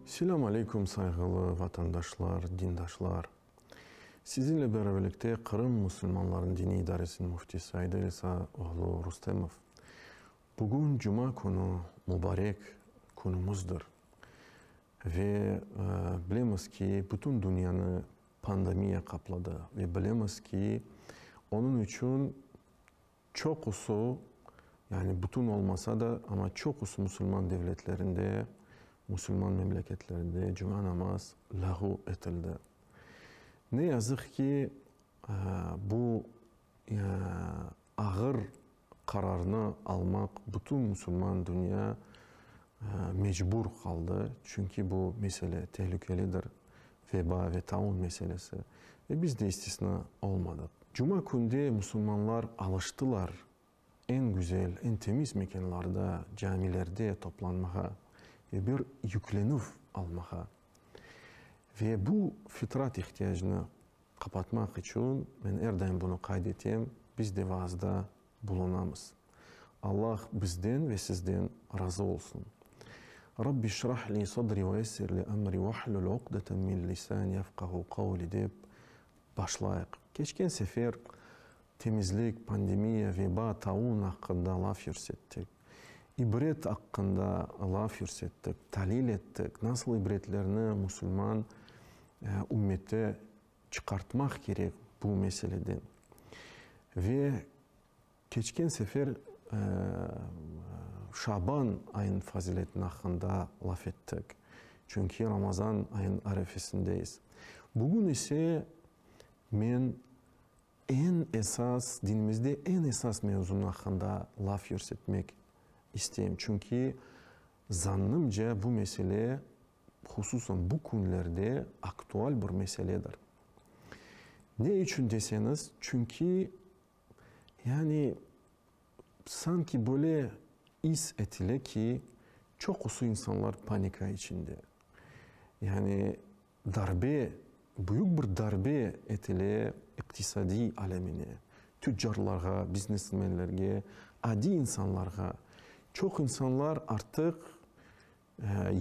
Selâm aleykum, sayğılı vatandaşlar, dindaşlar! Sizinle beraberlikte Qırım musulmanlarınıñ diniy idaresiniñ müftisi Aydel İsa oğlu Rustemov. Bugün cuma künü, mubarek künümüzdir. Ve bilemiz ki, bütün dünyanı Pandemiya qapladı ve bilemiz ki, onıñ içün çoqusı, yani bütün olmasa da, amma çoqusı musulman devletlerinde, musulman memleketlerde cuma namaz lâğu etildi. Ne yazıq ki, bu ağır Qararnı almaq bütün musulman dünya mecbur qaldı, çünki bu mesele telükelidir, veba ve taun meselesi, ve biz de istisna olmadıq. Cuma künde musulmanlar alıştılar eñ güzel, eñ temiz mekenlarda, camilerde toplanmağa ve bir yüklenüv almağa. Ve bu fitrat ihtiyacını Qapatmaq içün men er daim bunı qayd etem, biz de vaazda bulunamız. Allah bizden ve sizden razı olsun. Rabbi işrah li sadri ve yessir li emri vahlul uqdeten min lisani yefqahu qavli dep başlayıq. Keçken sefer temizlik, pandemiya, veba, taun aqqında laf yürsettik. İbret aqqında laf yürsettik, talil ettik, nasıl ibretlerni musulman ümmeti çıqartmaq kerek bu meseleden. Ve keçken sefer Şaban ayınıñ faziletini aqqında laf ettik, çünki Ramazan ayınıñ arefesindeyiz. Bugün ise men Eñ esas, dinimizde eñ esas mevzunıñ aqqında laf yürsetmek isteyim. Çünki, zannımca, bu mesele, hususan bu künlerde aktual bir meseledir. Ne içün deseñiz, çünki, yani, sanki böyle is etile ki, çoqusı insanlar panika içinde. Yani, Darbe, büyük bir darbe etile iqtisadiy alemine, tüccarlarğa, biznesmenlerge, adiy insanlarğa. Çoq insanlar artıq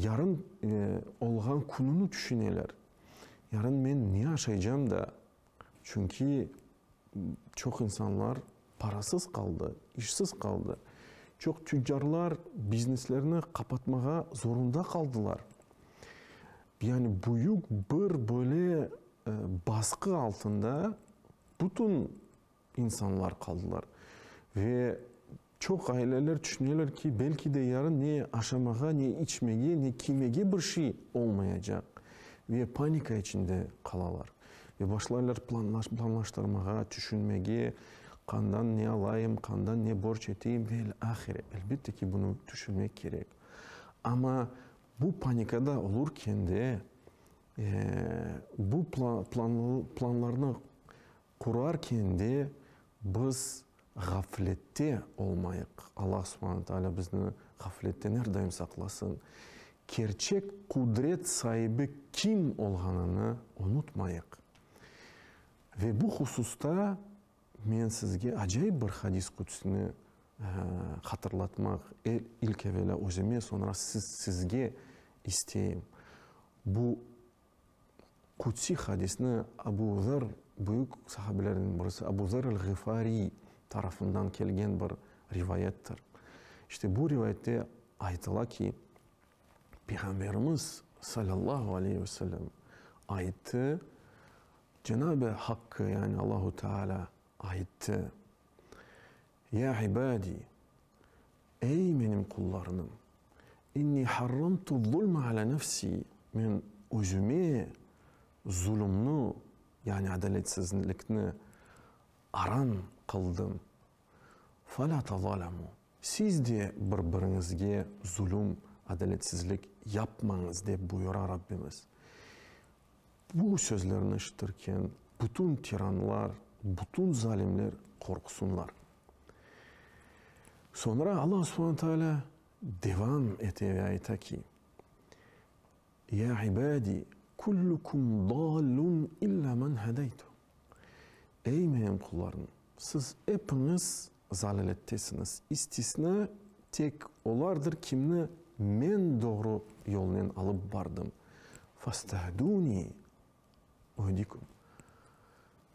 yarın olğan kününi tüşüneler. Yarın men ne aşaycam da? Çünki çoq insanlar parasız qaldı, işsiz qaldı. Çoq tüccarlar bizneslerini qapatmağa zorunda qaldılar. Yani büyük bir böyle basqı altında bütün insanlar qaldılar. Ve Çoq aileler tüşüneler ki, belki de yarın ne aşamağa, ne içmege, ne kiymege bir şey olmayacaq ve panika içinde qalalar. Ve başlaylar planlaştırmağa, tüşünmege, qandan ne alayım, qandan ne borç eteyim ve el ahire. Elbette ki, bunı tüşünmek kerek. Amma bu panikada olurken de bu planlarnı Qurarken de biz ğaflette olmayıq, Alla subhane taalâ bizni ğafletten er daim saqlasın, kerçek qudret saibi kim olğanını unutmayıq. Ve bu hususta men sizge acayip bir hadis qudüsni hatırlatmaq, ilk evelâ özüme, soñra sizge isteyim. Bu Qudsiy hadisni Abu Zerr, büyük sahabelerden birisi, Abu Zerr el-Ğifariy tarafından kelgen bir rivayettir. İşte bu rivayette aytıla ki, Peyğamberimiz salâllahu aleyh ve sellem ayttı, Cenab-ı Hakkı, yani Allahu Teâlâ ayttı, Ya ibadi, ey menim qullarnım, inni harramtu zulme ala nefsi, men özüme zulumnı, yani adaletsizlikni aram qıldım. Fela tazalamu, siz de bir-biriñizge zulum, adaletsizlik yapmañız, dep buyura Rabbimiz. Bu sözlerni eşitirken, bütün tiranlar, bütün zalimler qorqsunlar. Soñra Alla subhane taalâ devam ete ve ayta ki, Ya ibâdi, kullukum dâllun illâ men hedeytu. Ey menim qullarım! Siz epiñiz zalâlettesiñiz, istisna tek olardır kimni Men doğru yolnen alıp bardım. Fastahdûnî uhdikûm.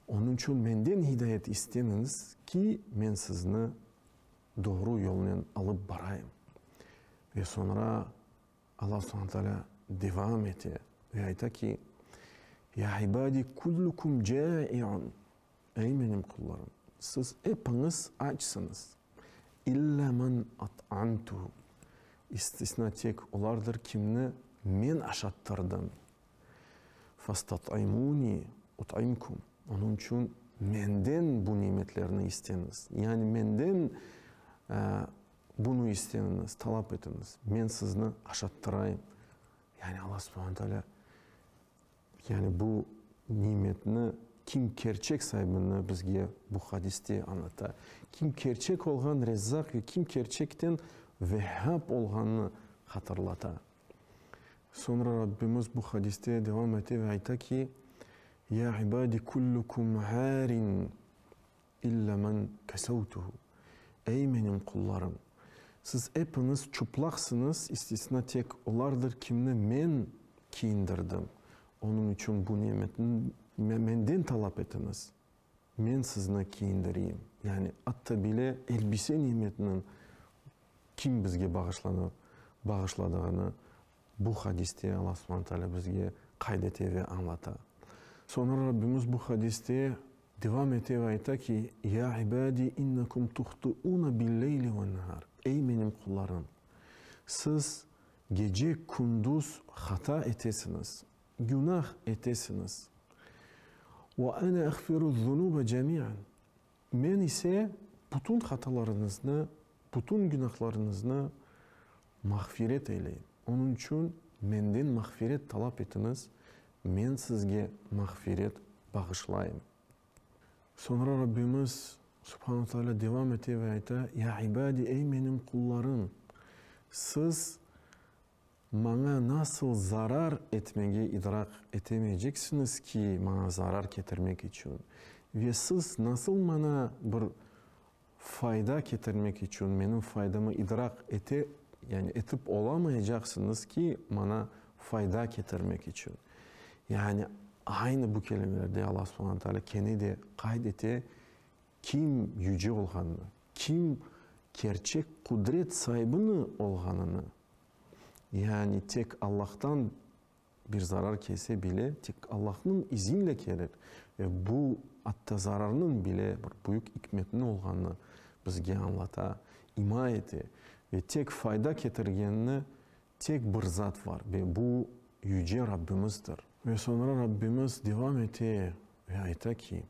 Onıñ içün Menden hidayet isteñiz ki, Men sizni doğru yolnen alıp barayım. Ve soñra Alla subhane taalâ devam ete ve ayta ki, Ya ibâdi kullukum câi'un, Ey menim qullarım, siz epiñiz açsıñız, illa men at'amtuhu, istisna tek olardır kimni men aşattırdım, fastat'imuni ut'imkum, onıñ içün menden bu nimetlerni isteñiz, yani menden Bunı isteñiz, talap etiñiz, men sizni aşattıraym. Yani Alla subhana taalâ yani bu nimetni kim kerçek saibini bizge bu hadiste añlata. Kim kerçek olğan Rezzaq ve kim kerçekten Vehhab olğanını hatırlata. Soñra Rabbimiz bu hadiste devam ete ve ayta ki, Ya ibâdi kullukum ârin İlla men kesevtuhu, Ey, menim qullarım! Siz epiñiz çıplaqsıñız, istisna tek olardır, kimni Men kiyindirdim. Onıñ içün bu nimetni Menden talap etiñiz, Men sizni kiyindireyim. Yani, atta bile elbise nimetiniñ kim bizge bağışlanı, bağışladığını bu hadiste Alla subhane taalâ bizge qayd ete ve añlata. Soñra Rabbimiz bu hadiste Devam ete ve ayta ki, Ya ibadi innakum tuhtuuna bil-leyli ven-nehar, Ey menim qullarım, siz gece, kündüz hata etesiñiz, günah etesiñiz. Ve ene agfiru'z-zunube cemi'an, Men ise bütün hatalarıñıznı, bütün günahlarıñıznı Mağfiret eyleyin. Onıñ içün menden mağfiret talap etiñiz, men sizge mağfiret bağışlayım. Soñra Rabbimiz Subhanu Taalâ devam ete ve ayta, Ya ibâdi, ey menim qullarım! Siz Maña nasıl zarar etmege idraq etemeyceksiñiz ki, Maña zarar ketirmek içün? Ve siz nasıl Maña bir Fayda ketirmek içün menim faydamı idraq ete, yani etip olamayacaqsıñız ki, maña fayda ketirmek içün. Yani aynı bu kelimelerde Alla subhana taalâ kene de qayd ete, kim yüce olğanını, kim kerçek qudret saibini olğanını, yani tek Allahtan Bir zarar kelse bile, tek Allahnıñ izinle kelir. Ve bu, atta zararnıñ bile bir büyük ikmetniñ olğanını bizge añlata, ima ete. Ve tek fayda ketirgenni tek bir zat var, ve bu, Yüce Rabbimizdir. Ve soñra Rabbimiz devam ete ve ayta ki,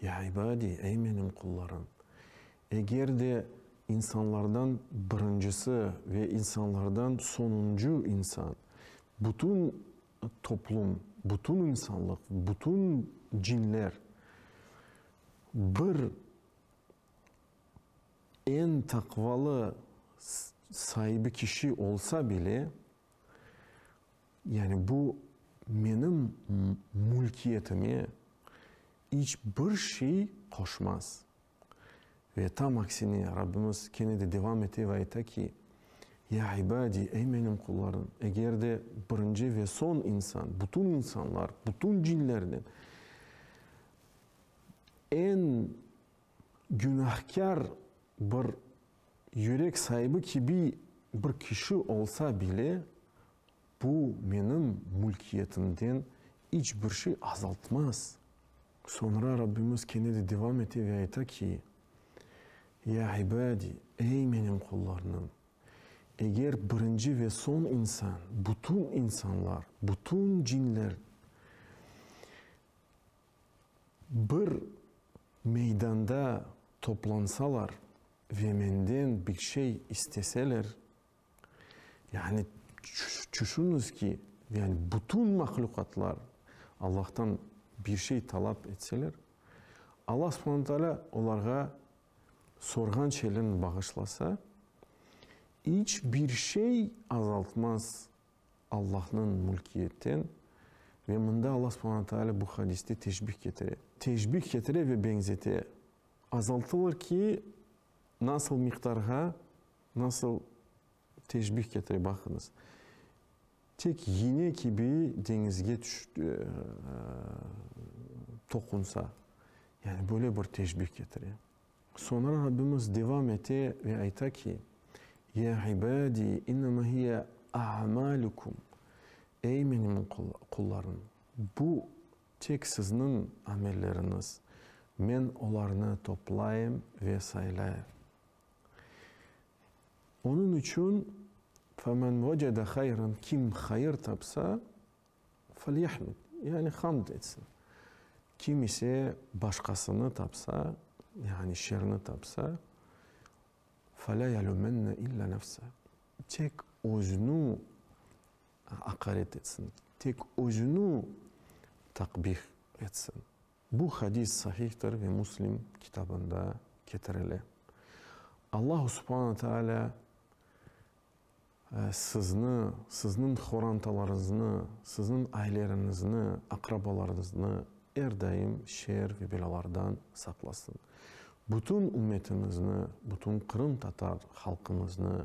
Ya ibadi, ey menim qullarım! Eger de insanlardan birincisi ve insanlardan soñuncu insan, bütün toplum, bütün insanlıq, bütün cinler bir eñ taqvalı saibi kişi olsa bile, yani bu menim mülkiyetime iç bir şey qoşmaz, Ve tam aksine, Rabbimiz kene de devam ete ve ayta ki, Ya ibadi, ey menim qullarım, eger de birinci ve soñ insan, bütün insanlar, bütün cinlerden eñ günahkâr bir yürek saibi kibi bir kişi olsa bile, bu menim mülkiyetimden iç bir şey azaltmaz. Soñra Rabbimiz kene de devam ete ve ayta ki, Ya ibadi, ey menim qullarnım, eger birinci ve soñ insan, bütün insanlar, bütün cinler bir meydanda toplansalar ve menden bir şey isteseler, Yani, çüşüniz ki, yani bütün mahluqatlar Allahtan bir şey talap etseler, Allah subhane taalâ olarğa sorğan şeylerini bağışlasa, iç bir şey azaltmaz Allahnıñ mülkiyetten. Ve mında Allah subhane taalâ bu hadiste teşbih ketire. Teşbih ketire ve beñzete. Azaltılır ki, nasıl miqdarğa? Nasıl teşbih ketire baqıñız. Tek yiñe kibi deñizge toqunsa. Yani böyle bir teşbih ketire. Soñra Rabbimiz devam ete ve ayta ki, Ya ibâdi, innema hiye a'mâlukum, Ey menim qullarım, bu tek sizniñ amelleriñiz, men olarnı toplayım ve saylayım. Onıñ içün, Femen vecede hayran, kim hayır tapsa, felyahmed, yani hamd etsin. Kim ise başqasını tapsa, yani şerni tapsa, fela yelumenne illa nefse, tek özüni aqaret etsin, tek özüni takbih etsin. Bu hadis Sahihtir ve Muslim kitabında ketirile. Allahu subhana taalâ sizni, sizniñ qorantalarıñıznı, sizniñ aileriñizni, aqrabalarıñıznı er daim şer ve belâlardan saqlasın. Bütün ümmetiñizni, bütün qırımtatar halqıñıznı